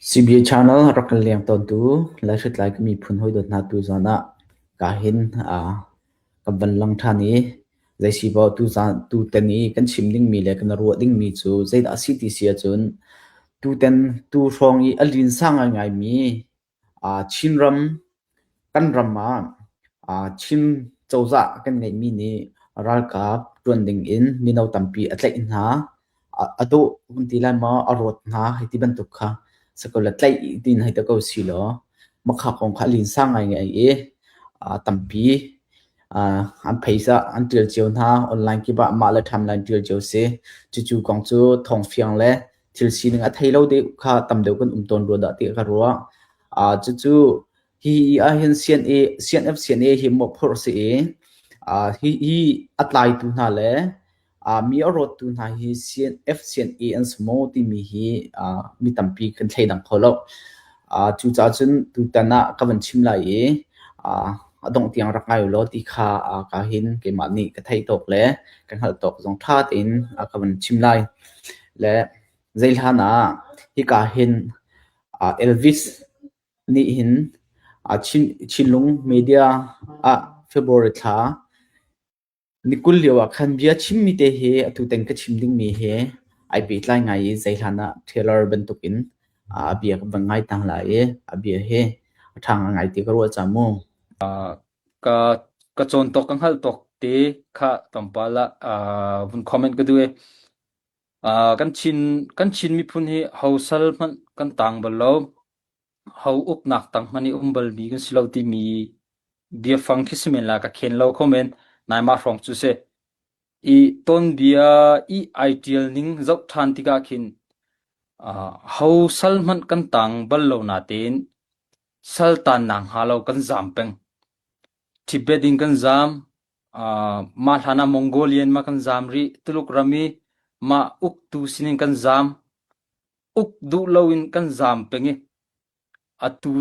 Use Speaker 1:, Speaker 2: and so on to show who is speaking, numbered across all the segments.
Speaker 1: CBA Channel rak kan leng tawntu Lai Hritlai kan miphun hawi dawt hna tu zawn ah kaa hin kan van lang ṭhan i zeisibaw tutan i kan chim dingmi le kan ruah dingmi cu zeidah a si ti si ahcun tutan tu hrawng i a linsa ngaingaimi Chinram kan ram ah Chin cozah kan ngeihmi nih ralkap ṭuan dingin mino tampi a tlaih hna. A dawh kan ti lai maw? A rawt hna hei ti bantuk kha si ko le tlaih ding hei ti ko silaw makha kong kha a linsa ngaingai i tampi an phaisa an ṭial cio hna online kip ah mah le timeline ṭial cio a si. Cucu kong cu thawng fiang le thil sining a thei lo deuh kha tam deuh kan um tawn rua dah tiah ka ruah. Uh, cucu hi ahhin CNA, CNF CNA hi mawhphurh si i uh, hi, hi a tlaitu hna le uh, mi a rawttu hna hi CNF CNA an si maw timi hi uh, mi tampi kan thei dang kho lo. Cucaah cun tutan ah ka van chim lai i a dongh tiang rak ngai ulaw ti kha ka hin keimah nih ka theih tawk le ka hngalh tawk zong ṭha tein ka van chim lai. Le zei hlan ah hika hin Elvis nih hin Chinlung media ah February thla Ni kul lio ah khan bia chimmi te hi atu teng ka chim dingmi hi ai pehtlai ngai i zei hlan ah Taylor bantukin a bia ka van ngai tang la i a bia hi a ṭhang a ngai ti ka ruah cang mu.
Speaker 2: ka ka cawn tawk ka hngalh tawk te kha tlawmpal ah uh, vun comment ka duh i uh, kan Chin kan Chin miphun hi hosal hmanh kan tang bal lo Ho uknak tanghman i um balmi kan si lo timi biafang khi si men la ka khen lo kho men. Naimah hrawng cu si. I tonbia i ai ṭial ning zoh ṭhan tikah khin ah, ho sal hmanh kan tang bal lo natein sal tannak hnga lo kan zaam peng. Tibet in kan zaam. ah, mah hlanah Mongolian ma kan zaam rih. Tuluk ram i mah uktu sinin kan zaam. Uk duh loin kan zaam peng i atu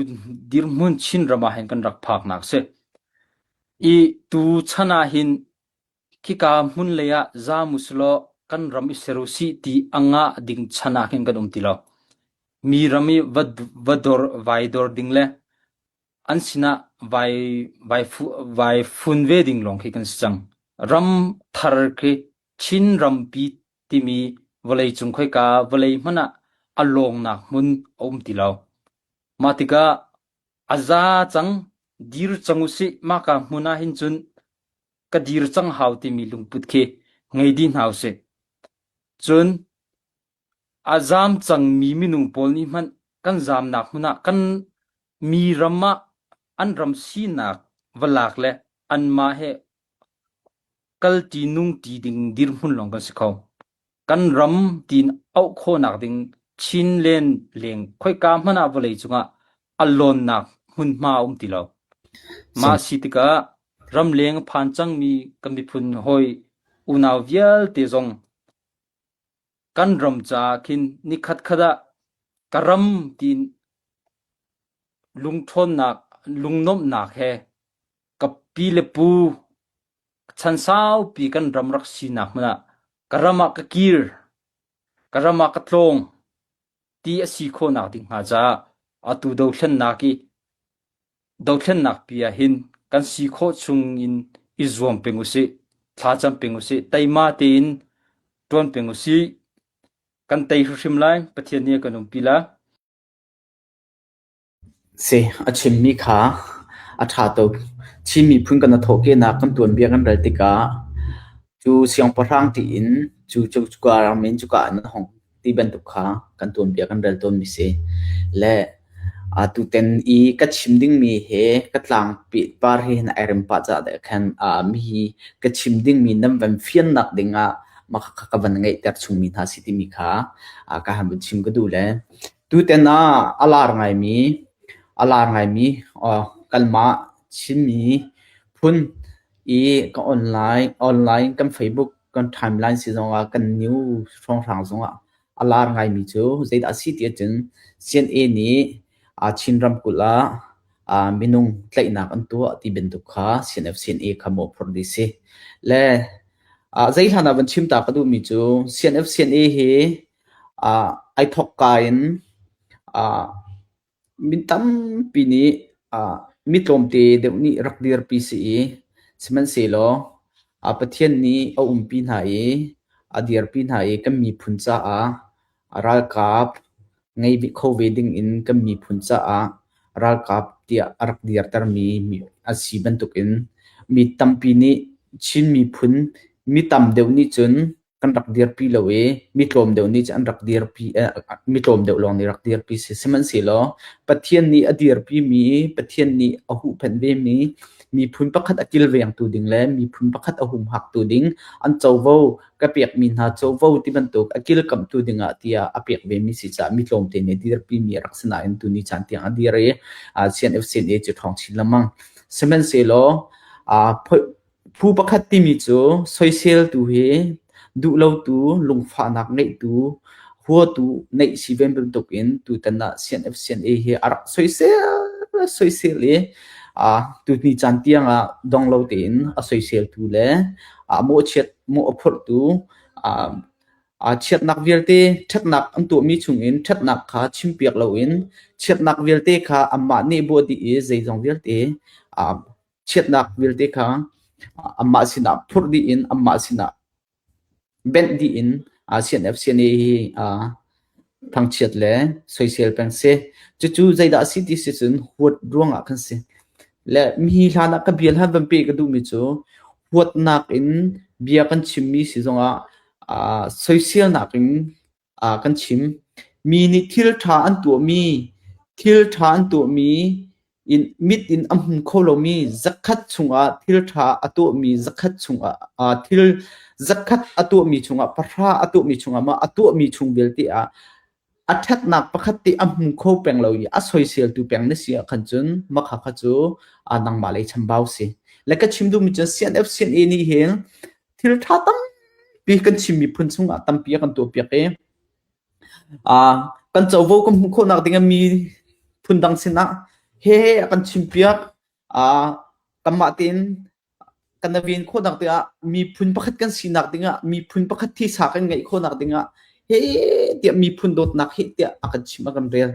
Speaker 2: dirhmun Chinram ah hin kan rak phaknak a si. I tu chan ah hin khika hmun lei ah zaam usilaw kan ram i ser usih ti angah ding chan ah hin kan um ti lo. Mi ram i va, va dor vai dor ding le an sinah vai vai fu- vai fun ve ding lawng khi kan si cang. Ram thar khi Chin rampi timi vawleicung khoika vawlei hmanh ah a lawngnak hmun a um ti lo. Mah tikah a za cang, dir cang u sih, mahka hmun ah hin cun ka dir cang hau timi lungput khi ngei dih hna u sih. Cun a zaam cangmi minung pawl nih hmanh kan zaamnak hmun ah kan mi ram ah an ram sinak va lak le anmah he Kal ti nung ti ding dirhmun lawng kan si kho. Kan ram tiin auh khawhnak ding Chin len leng khoika hmanh ah vawlei cungah a lawnnak hmunhma a um ti lo. Mah a si tikah ramleng a phan cangmi kan miphun hawi unau vialte zong kan ram caah khin nikhatkhat ah ka ram tiin lungṭhawnnak, lungnuamhnak he Ka pi le pu, chan saupi kan ram rak sinak hmun ah ka ram ah ka kir, ka ram ah ka tlawng ti a si khawhnak ding hnga caah atu dothlennak i dothlennak pi ah hin kan si khawh chung in i zuam peng usih, thla cam peng usih, teima tein ṭuan peng usih. Kan tei hrimhrim lai, Pathian nih a kan umpi lai.
Speaker 1: Si, a chimmi kha a ṭha tuk. Chin miphun kan i thawhkehnak kan tuanbia kan rel tikah cu siangpahrang tiin cu cuka ram in cuka ah nan hong ti bantuk kha kan tuanbia kan rel tawnmi si. Le atutan i ka chim dingmi hi ka tlangpi par hi na erem pah caah deh khan aa mi hi ka chim dingmi nan van fiannak dingah mah kha ka van ngeihter chungmi hna si timi kha aa ka han vun chim ka duh le Tutan ah a lar ngaimi, a lar ngaimi kanmah Chinmi phun i ka online, online kan Facebook kan timeline si zongah kan news hrawnghrang zongah a lar ngaimi cu zeidah a si tiah cun CNA nih Chin ramkulh ah minung tlaihnak an tuah ti bantuk kha CNF-CNA kha mawhphurh dih si. Le zei hlan ah van chim ta ka duhmi cu CNF-CNA hi Ai thawkka in mi tampi nih mi tlawmte deuh nih rak dirpi si i sihmanhsehlaw Pathian nih a umpi hna i a dirpi hna i kan miphun caah ralkap ngei kho ve dingin kan miphun caah ralkap tiah a rak dirtermi a si bantukin mi tampi nih Chin miphun mi tam deuh nih cun kan rak dirpi lo i mi tlawm deuh nih cun an rak dirpi mi tlawm deuh lawng nih rak dirpi si sihmanhsehlaw Pathian nih a dirpi mi Pathian nih a huhphenh ve mi miphun pakhat a kilvengtu ding le miphun pakhat a humhaktu ding an covo ka pek mi hna covo ti bantuk a kilkamhtu ding ah tiah a pek ve mi si caah mi tlawmte nih dirpi mi a rak si nain tuni caan tiang a dir i CNFCNA cu ṭhawng chin lemang sihmanhsehlaw Phu pakhat timi cu soiseltu hi duhlotu, lungfahnak ngeihtu, huatu neih si ven bantuk in tutan ah CNFCNA hi a rak soisel soisel i tuni caan tiang ah donglo tein a soiseltu le a mawhchiat mawh a phurhtu chiatnak vialte ṭhatnak an tuahmi chungin ṭhatnak kha chimpiak loin chiatnak vialte kha anmah nih buah dih i zeizong vialte chiatnak vialte kha amah sinah phurh dih in amah sinah benh dih in CNFCNA hi thangchiat le soisel peng si cucu zeidah si ti si cun huat ruangah kan si le mi hlan ah ka bia hlan van pe ka duhmi cu huatnak in bia kan chimmi si zongah soisel nakin ah kan chim. Mi nih thil ṭha an tuahmi, thil ṭha an tuahmi, in mit in a hmu kho lomi zakhat chungah thil ṭha a tuahmi zakhat chungah uh, thil zakhat a tuahmi chungah pahra a tuahmi chungah mah a tuahmi chung vialte ah a ṭhatnak pakhat ti a hmu kho peng lo i a soiseltu peng na si ah khan cun makha kha cu a nangmah lei chambau si le ka chim duhmi cun CNF CNA nih hin Thil ṭha tampi kan chim miphun chungah tampi a kan tuahpiak i ah kan covo kan hmuh khawhnak ding ah miphun dang sinah hehe a kan chimpiak. Ah kanmah tein kan naven khawhnak ding ah miphun pakhat kan sinak ding ah miphun pakhat thisa kan ngeih khawhnak ding ah hehe tiah miphun dawtnak heh tiah a kan chim a kan rel.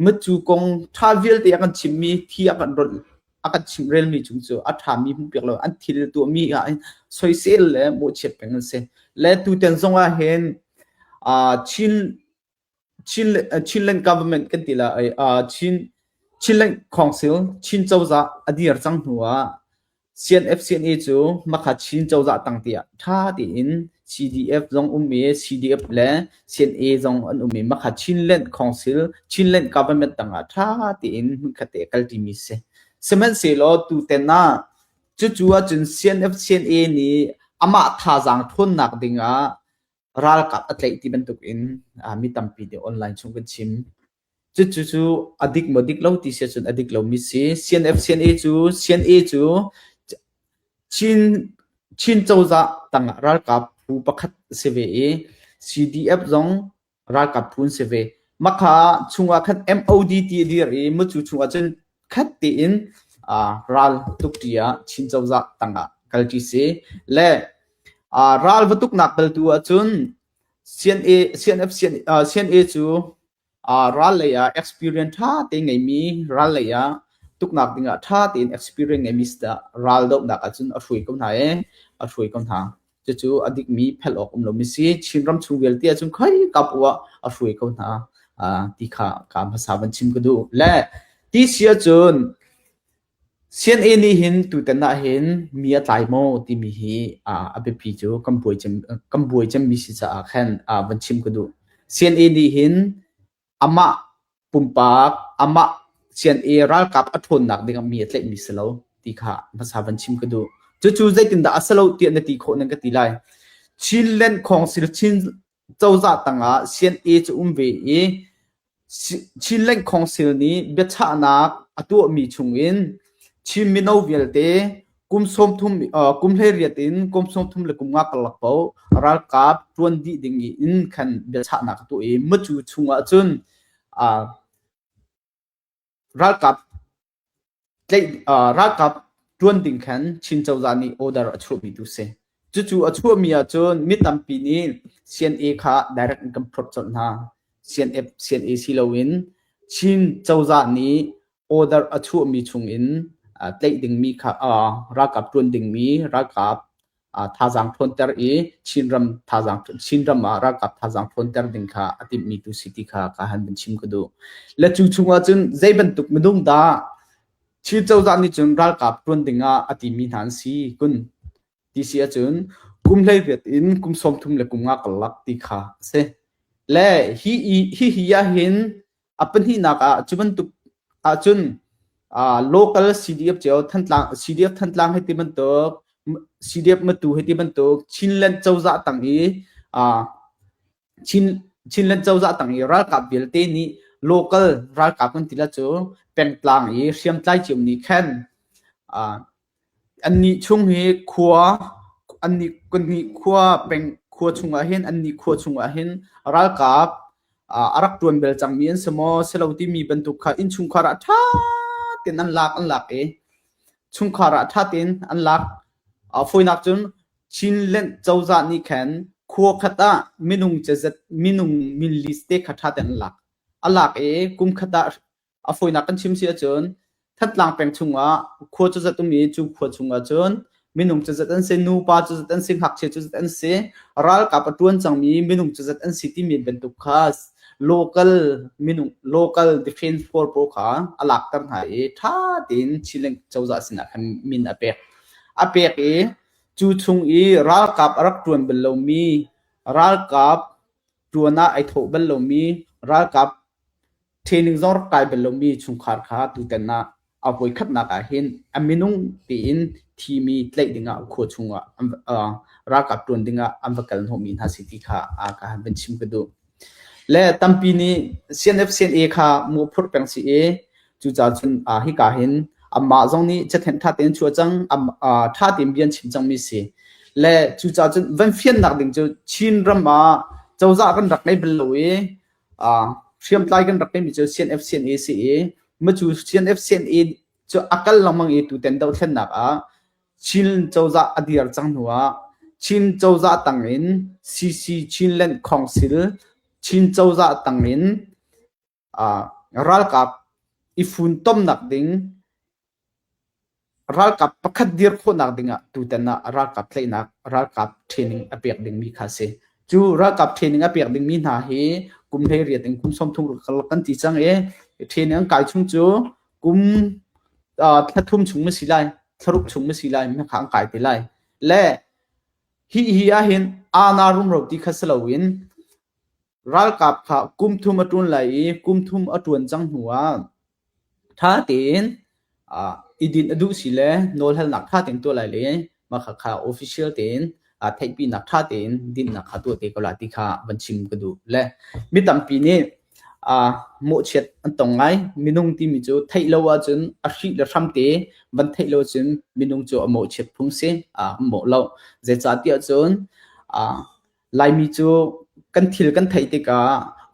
Speaker 1: Mit cu kong ṭha vialte a kan chimmi thi a kan ronh. a kan chimh relmi chung cu a ṭhami hmuhpiak lo an thil tuahmi ah hin soisel le mawhchiat peng an si le tutan zongah hin Chin Chin Chinland government kan ti la Chin Chinland Council Chin cozah a dir cang hnu ah CNF-CNA cu Makha Chin cozah tang tiah ṭha tein CDF zong ummi CDF le Chin-i zong an um i makha Chinland Council Chinland government tangah tha tein hmunkhatte kal timi si. Sihmanhsehlaw tuten ah cucu ahcun CNF CNA nih amah thazaang ṭhawnnak dingah ralkap a tlaih ti bantuk in mi tampi nih online chung kan chim. Cucu a dik maw dik lo ti sia cun a dik lomi si. CNF-CNA cu CNA cu Chin Chin cozah tangah ralkap phu pakhat a si ve i CDF zong ralkap phu an si ve. Makha chungah khan MOD ti a dir i Mutcu chungah cun khat tein aa ral tukṭi ah Chin cozah tangah kalṭi si. Le aa ral va tuknak bel tu ahcun CNA cu ral lei ah experience ṭha tein ngeimi, ral lei ah tuknak ding ah ṭha tein experience ngeimi si tah ral dohnak ahcun a hruai ko hna i a hruai ko hna. Cucu a dikmi philh awk um lomi si. Chinram chung vialte ahcun khoikap u ah a hruai ko hna ti kha ka hmasa van chim ka duh. Le ti si ahcun CNA nih hin tutan ah hin mi a tlai maw timi hi a biapi cu kan buai cem kan buai cemmi si caah khan van chim ka duh. CNA nih hin amah pumpak amah CNA ralkap a ṭhawnnak ding ah mi a tlaihmi si lo ti kha hmasa van chim ka duh. Cucu zeitindah a si lo tiah na ti khawh nan ka ti lai. Chinland Council Chin Cozah tangah sian-e cu um ve i Chin Lengkhawng Cell nih biachahnak a tuahmi chungin Chin mino vialte kum hleiriat in kum sawmthum le kum nga karlak paoh ralkap ṭuan dih ding in khan biachahnak a tuah i mucu chungah cun ralkap ralkap ṭuan ding khan Chin cozah nih order a chuahmi tu si. Cucu a chuahmi ahcun mi tampi nih CNA kha direct in kan phurh colh hna. CNA, CNA si loin Chin cozah nih order a chuahmi chungin tlaih dingmi kha ralkap ṭuan dingmi ralkap thazaang ṭhawnter i Chinram thazaang Chinram ah ralkap thazaang ṭhawnter ding kha a timhmi tu si ti kha ka han vun chim ka duh. Le cu chungah cun zei bantuk minung dah Chin cozah nih cun ralkap ṭuan dingah a timi hna an si kun ti si ahcun kum hleiriat in kum sawm thum le kum nga karlak ti kha a si. Le hi hi hi ahhin A pahnihnak ah cu bantuk ahcun uh, local CDF cio Thantlang CDF Thantlang hei ti bantuk CDF Matu hei ti bantuk Chinland cozah tang i uh, Chin Chinland cozah tang i ralkap vialte nih local ralkap kan tila cu pengtlang i hriamtlai cium nih khan uh, Annih chung hi khua an nih khua peng khua chungah hin an nih khua chungah hin ralkap a rak ṭuan bel cangmi an si maw si lo timi bantuk kha innchungkhar ah ṭha tein an lak an lak i chungkhar ah ṭha tein an lak. Fawinak cun Chinland cozah nih khan khua khat ah minung cazet minung minlis te kha ṭha tein an lak. A lak i kum khat ah a fawinak kan chim si ahcun Thatlang peng chungah khua cuzat um i cu khua chungah cun minung cuzat an si nupa cuzat an si ngakchia cuzat an si ralkap a tuan cangmi minung cuzat an si timi bantuk kha local minung local defense force pawl kha a lakter hna i tha tein Chiling cozah sinah khan min a pek a pek i cu chung i ralkap a rak tuan bal lomi ralkap tuan ah ai thawh bal lomi ralkap Training zor kai bal lomi chungkhar kha tutan ah a voikhatnak ah hin a minung tein thimi tlaih dingah khua chungah an, uh, ralkap ṭuan dingah an va kal hnawhmi hna si ti kha a ka han van chim ka duh. Le tampi nih CNF-CNA kha mu phurh peng si i cucaah cun uh, hika hin amah zong nih cathen ṭha tein chuah cang uh, ṭha tein bian chim cangmi si le cucaah cun van fiannak ding cu Chin ram ah cozah kan rak ngei bal lo i hriamtlai kan rak timi cu CNF-CNA si i macu CNF-CNA cu a kal lengmang i tutan dohthlennak ah Chin cozah a dir cang hnu ah Chin cozah tang in CC Chinland Council Chin cozah tang in ralkap i funtomnak ding Ralkap pakhat dir khawhnak dingah tutan ah ralkap tlaihnak ralkap training a pek dingmi kha a si. Cu ralkap training a pek dingmi hna hi kum hleiriat in kum sawmthum ruk kan ti cang i training an kai chung cu kum uh, thla thum chung ma si lai, thla ruk chung ma si lai, mi kha an kai te lai. Le hi hi ahhin aana rumro ti kha si loin Ralkap kha kum thum a ṭun lai i kum thum a ṭuan cang hnuah ṭha tein i din a duh sile nawlhalnak ṭha tein tuah lai le mah kha kha official tein theihpinak ṭha tein dinnak kha tuah te ko la ti kha van chim ka duh. Le mi tampi nih mawhchiat an tong ngai. Minung timi cu theih lo ahcun a hrih le hram te van theih lo ahcun minung cu a mawhchiat phung si, a mawh lo. Zeicahtiah cun Laimi cu kan thil kan theih tikah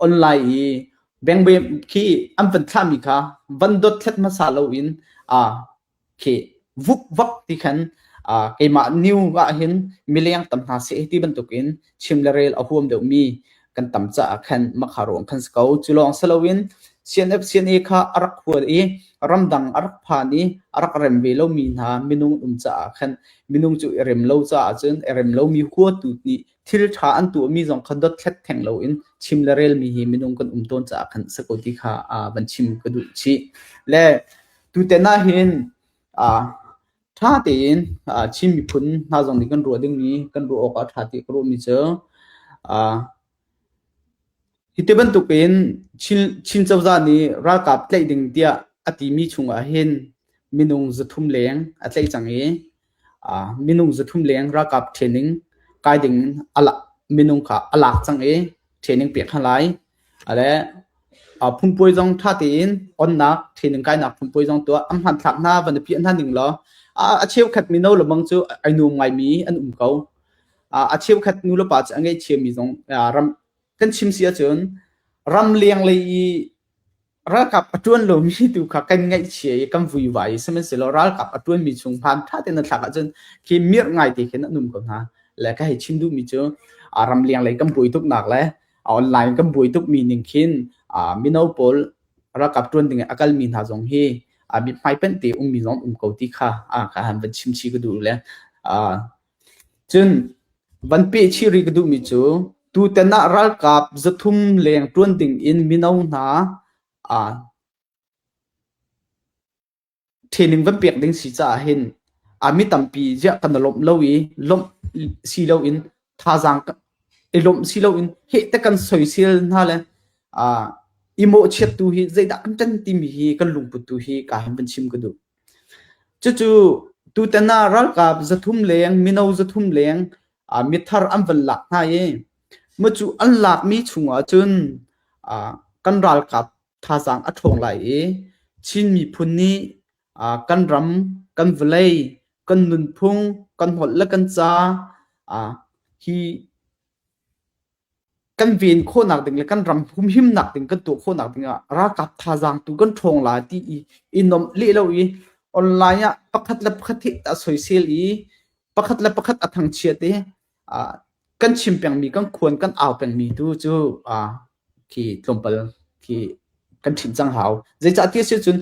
Speaker 1: online i bengbeem khi an van thlahmi kha van dot thlet hmasa loin aa khi vup vak ti khan uh, keimah new ah hin mileng tam hna se ti bantukin chim le rel a huam deuhmi kan tam caah khan makha ruang khan se ko cu lawng siloin CNFCNA kha a rak hual i ramdang a rak phan i a rak rem ve lomi hna minung um caah khan minung cu i rem lo caah cun i rem lomi huatu nih thil ṭha an tuahmi zong kha dothlat theng loin chim le relmi hi minung kan um tawn caah khan si ko ti kha van chim ka duh chih le tutan ah hin ṭha tein Chin miphun hna zong nih kan ruah dingmi kan ruah awk ah ṭha ti ka ruahmi cu Hi ti bantukin Chin cozah nih ralkap tlaih ding tiah a timi chungah hin minung zathum leng a tlaih cang i minung zathum leng ralkap training kai ding minung kha a lak cang i training pek hna lai. Le phunpuai zong ṭha tein onnak training kainak phunpuai zong tuah an hmanthlak hna van i piah hna ding law a cheukhat mino lemang cu ai nuam ngaimi an um ko. a cheukhat nulepa cu a ngaihthiammi zong ram kan chim si ahcun ram leng lei i ralkap a tuan lomi tu kha kan ngaihchia i kan vuivai sihmanhsehlaw ralkap a tuanmi chung hmaan tha tein na thlak ahcun khi mirh ngai te khin an um ko hna le ka hei chim duhmi cu ram leng lei kan buai tuknak le online kan buai tukmi ning khin mino pawl ralkap tuan ding a kalmi hna zong hi mithmai pente ummi zong um ko ti kha ka han van chim chi ka duh le Cun van peh chih rih ka duhmi cu tutan ah ralkap zathum leng ṭuan dingin mino hna aa training van pek ding si caah hin a mi tampi ziah kan i lawmh lo i lawmh si loin thazaang i lawmh si loin heh ti kan soisel hna le aa i mawhchiat tu hi zeidah kan ṭan timi hi kan lungput tu hi kaa han van chim ka duh. Cucu tutan ah ralkap zathum leng mino zathum leng mithar an van lak hna i mucu an lakmi chungah cun kan ralkap thazaang a ṭhawng lai i Chin miphun nih kan ram, kan vawlei, kan nunphung, kan holh le kan ca hi kan ven khawhnak ding le kan ram humhimnak ding kan tuah khawhnak dingah ralkap thazaang tu kan ṭhawng la ti i i nomh leh lo i online ah pakhat le pakhat hi a soisel i pakhat le pakhat a thangchiat i uh, kan chim pengmi kan khuan kan au pengmi tu cu uh, khi tlawmpal khi kan ṭhinh cang hau. Zeicahtiah a si cun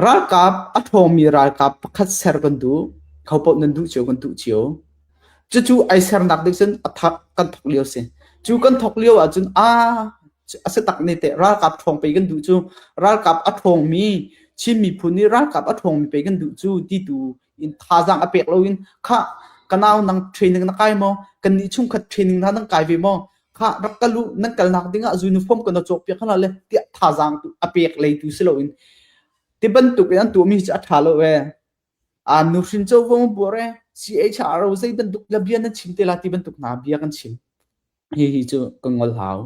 Speaker 1: ralkap a ṭhawngmi ralkap pakhat ser kan duh, kho paoh nan duh cio kan duh cio. Cucu ai sernak nih cun a thak kan thok lio si. Cu kan thok lio ahcun aa a si tak ne teh ralkap ṭhawng pei kan duh cu ralkap a ṭhawngmi Chin miphun nih ralkap a ṭhawngmi pei kan duh cu ti tu in thazaang a pek loin kha ka nau nang training na kai maw kan ni chung khat training na nang kai ve maw kha rak ka lu nan kalnak dingah zu uniform kan cawk piak hana le tiah thazaang a pek lei tu si loin ti bantuk in an tu mi ci a tha lo ve a nu hrin cho vong bore CHR zei bantuk labia nan chim te la ti bantuk na bia kan chim hi hi chu ka ngol hau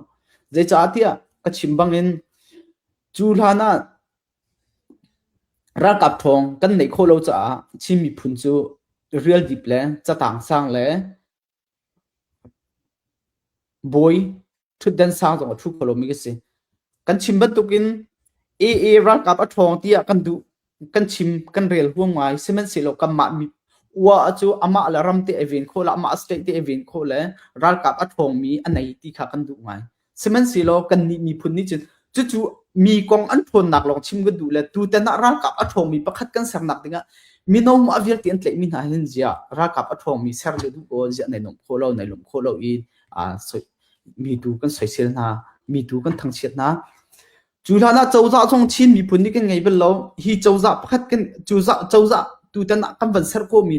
Speaker 1: zei cha tia ka chim bangin chu hlana Ralkap ṭhawng kan neih khawh lo caah Chin miphun cu rialdip le catang sang le bawi ṭhutdan sang zong a ṭhu kho lomi kan si. Kan chim bantukin AA ralkap a ṭhawng tiah kan duh. Kan chim, kan rel huam ngai. Sihmanhsehlaw kanmah ua cu amah le ram te ai ven khawh le amah state te ai ven khawh le ralkap a ṭhawngmi a nei ti kha kan duh ngai. Sihmanhsehlaw kannih miphun nih cun cucu mi kong an ṭhawnnak lawng chim kan duh le tutan ah ralkap a ṭhawngmi pakhat kan sernak dingah mino mah vialte an tlaihmi hna hin ziah ralkap a ṭhawngmi ser lio duh ko ziah nai lawmh khawh lo nai lawmh khawh lo i aa mi tu kan soisel hna mi tu kan thangchiat hna Cu hlanah cozah zong Chin miphun nih kan ngei bal lo. Hi cozah pakhat kan cozah tutan ah kan van ser khawhmi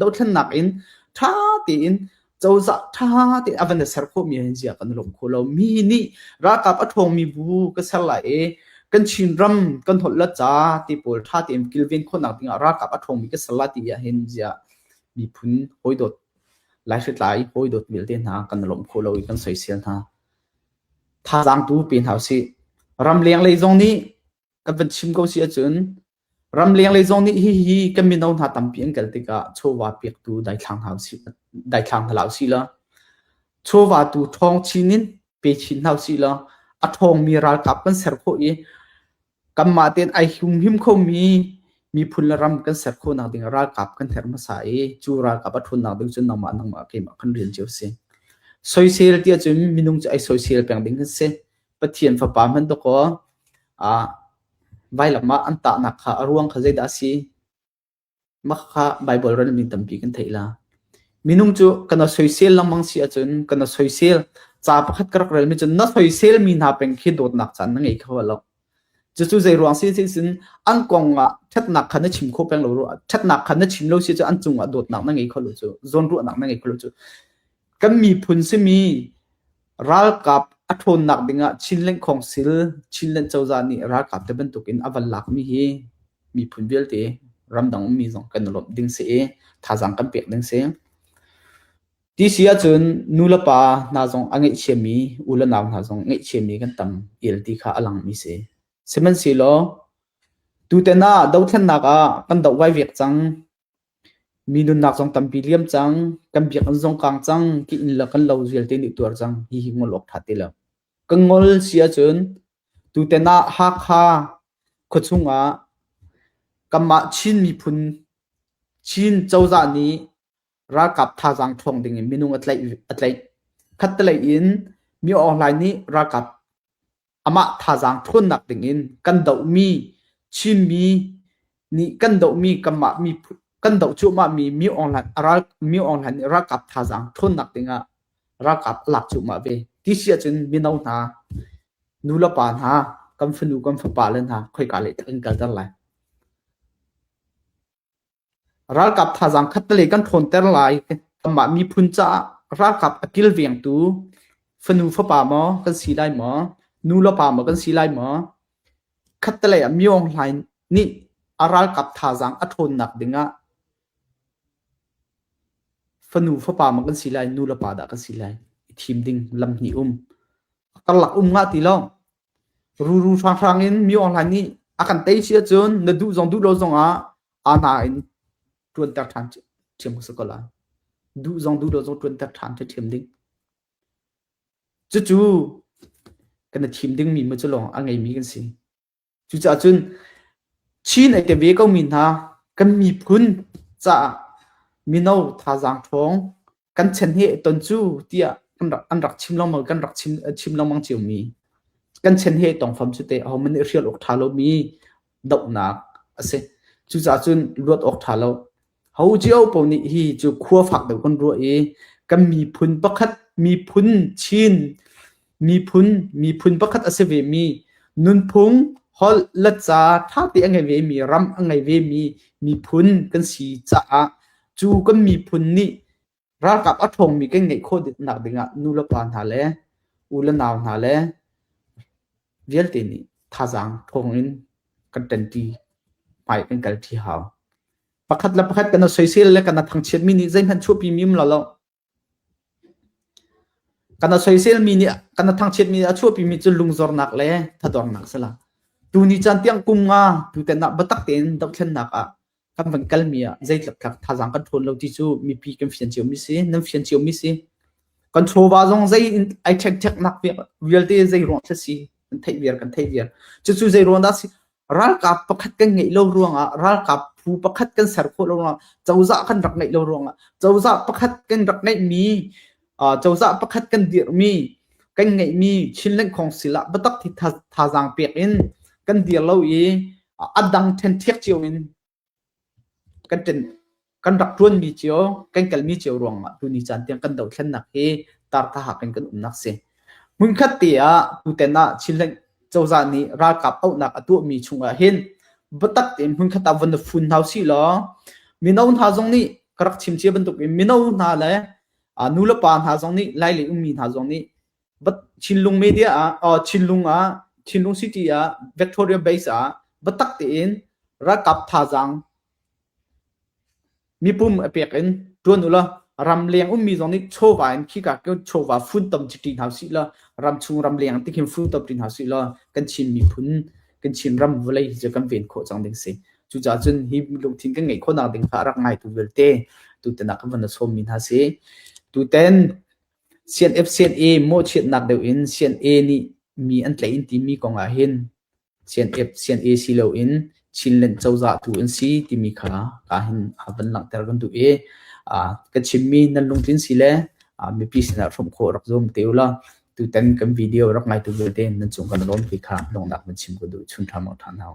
Speaker 1: dothlennak in ṭha tein cozah ṭha tein a van ser khawhmi hin ziah kan lawm kho lo. Mi nih ralkap a ṭhawngmi bu ka ser lai i kan Chinram kan holhla ca ti pawl ṭha tein kilven khawhnak dingah ralkap a ṭhawngmi ka ser lai ti ah hin ziah miphun hawidawt, laihritlai hawidawt vialte hna kan lawm kho lo i kan soisel hna. Thazaangtu pe hna usih. Ramleng lei zong nih kan van chim ko si ahcun ramleng lei zong nih hihi kan mino hna tampi an kal tikah chawva pektu daithlang hna usih, daithlang hna hlah usih law chawva tu ṭhawng chin in pe chin hna usih law a ṭhawngmi ralkap kan ser khawh i Kanmah tein ai humhim khomi miphun le ram kan ser khawhnak ding ah ralkap kan herh hmasa i cu ralkap a ṭhutnak ding cun nangmah nangmah keimah kan rel cio a si. Soisel ti ahcun minung cu ai soisel peng ding an si. Pathian fapa hman dawkaw ah vailam ah an tahnak kha a ruang kha zeidah a si? Mah kha Baibal rel mi tampi kan theih la. Minung cu kan rak soisel lengmang si ahcun kan rak soisel. Ca pakhat ka rak rel mi cu na soisel mi hna peng khi dawtnak caan na ngei kho lo. Cucu zei ruang si si cun an kong ah ṭhatnak kha na chim kho peng lo rua. Ṭhatnak kha na chim lo si cu an cung ah dawtnak na ngei kho lo cu. Zawnruahnak na ngei kho lo cu. Kan miphun simi Ralkap a ṭhawnnak ding ah Chinleng Khawngsil Chinland cozah nih ralkap te bantuk in a van lakmi hi miphun vialte ramdang ummi zong kan i lawmh ding si i thazaang kan pek ding si. Ti si ahcun nulepa hna zong a ngeihchiami unau hna zong ngeihchiami kan tam el ti kha a langmi si. Sihmanhsehlaw tutan ah dothlennak ah kan doh vaivek cang. Mi nunnak zong tampi liam cang. Kan biakinn zong kang cang. Ka inn le kan lo vialte nih tuar cang. Hihi ngol awk ṭha ti lo. Kan ngol si ahcun tutan ah Hakha khuachung ah kanmah Chin miphun Chin cozah nih ralkap thazaang ṭhawng ding in minung a tlaih a tlaih. Khatlei in Mi Aung Hlaing nih ralkap amah thazaang ṭhawnnak dingin kan dohmi Chinmi nih kan dohmi kanmah mi kan doh cuahmahmi mi awnghlan ral mi awnghlan nih ralkap thazaang ṭhawnnak dingah ralkap a lak cuahmah ve ti si ahcun mino hna nulepa hna kan fanu kan fapa le hna khoika lei tah kan kalter lai Ralkap thazaang khattelei kan ṭhawnter lai kanmah miphun caah ralkap a kilvengtu fanu fapa maw kan si lai maw, nu le pa maw kan si lai maw, khattelei ah Myo Aung Hlain nih a ralkap thazaang a ṭhawnnak dingah fanu fapa maw kan si lai, nu le pa dah kan si lai i thim ding lam hnih um. A karlak um ngah ti lo. Ruru hranghrang in Myo Aung Hlain nih a kan tei si ahcun na duh zong duh lo zongah aa hna in ṭuanter ṭhan ṭhiam ko ko lai. Duh zong duh lo zong ṭuanter ṭhan ṭhiam ding. Cucu kan i thim dingmi ma cu lawng a ngeimi kan si. Cucaah cun Chin ai ke ve ko mi hna kan miphun caah mino thazaang ṭhawng kan chen hi ton cu tiah an rak an rak chim longmang kan rak chim chim longmang cio mi kan chen hi tong fam cu te hom ne rial ok tha lo mi dopnak ase cu cha cun luat ok tha lo ho jio po ni hi cu khua fak deuh kan ruwa i kan mi phun pakhat mi phun chin Miphun, miphun pakhat a si vemi, nunphung, holh, letca ṭha te a ngei vemi, ram a ngei vemi miphun kan si caah cu kan miphun nih ralkap a ṭhawngmi kan ngeih khawh nak dingah nu le pa hna le u le nau hna le vialte nih thazaang thawng in kan ṭanṭi hmai kan kal ṭi hau. Pakhat le pakhat kan i soisel le kan i thangchiat mi nih zeihmanh chuahpi mim lo lo. Kan a soiselmi nih kan a thangchiatmi nih a chuahpimi cu lungzornak le thaduarnak a si lo. Tuni caan tiang kum nga tutan ah biatak tein dohthlennak ah kan van kalmi ah zeitluk thazaang kan ṭhawn lo ti cu mipi kan fian cionmi si, nan fian cionmi si. Kan chawva zong zei in ai ṭhekṭheknak vialte zei ruang a si nan theih viar kan theih viar. Cucu zei ruang dah a si? ralkap pakhat kan ngeih lo ruangah ralkap phu pakhat kan ser khawh lo ruangah cozah kan rak ngeih lo ruangah cozah pakhat kan rak ngeihmi cozah pakhat kan dirhmi kan ngeihmi Chinland Council ah biatak thi thazaang pek in kan dir lo i a dang ṭhen ṭhek cio in kan rak ṭuanmi cio, kan kalmi cio ruangah tuni caan tiang kan dothlennak hi tarthaha kan kan umnak si. Hmunkhat te ah tutan ah Chinland cozah nih ralkap auhnak a tuahmi chungah hin biatak tein hmunkhat ah von fun hau si law mino hna zong nih ka rak chim cia bantuk in mino hna le nu le pa hna zong nih lailei ummi hna zong nih Chinlung media ah Chinlung ah Chinlung city ah Victoria base ah biatak tein ralkap thazaang mipum a pek in tuan u la ram leng ummi zong nih chawva in khi ka chawva fun tam ti hna si la ram chung ram leng ti hin fun tam ti hna si la kan Chin miphun kan Chin ram vawlei hi kan ven khawh cang ding si cucaah cun hi lungthin kan ngeih khawhnak ding kha rak ngai tu vialte tu tenak kan van sawm mi hna si tu ten Sian-ep-sian-e mawhchiatnak deuh in sian-e nih mi an tlaih in timi kong ah hin sian-ep-sian-e si loin Chinland cozah tu an si timi kha kaa hin van langhter kan duh i ka chimmi nan lungtlin si le mipi sinah hrawmh khawh rak zuam te ula tutan kan video rak ngaitu vialte nan cung kan lawm ti kha lawmnak nan chim ka duh chun ṭha maw ṭhan hau.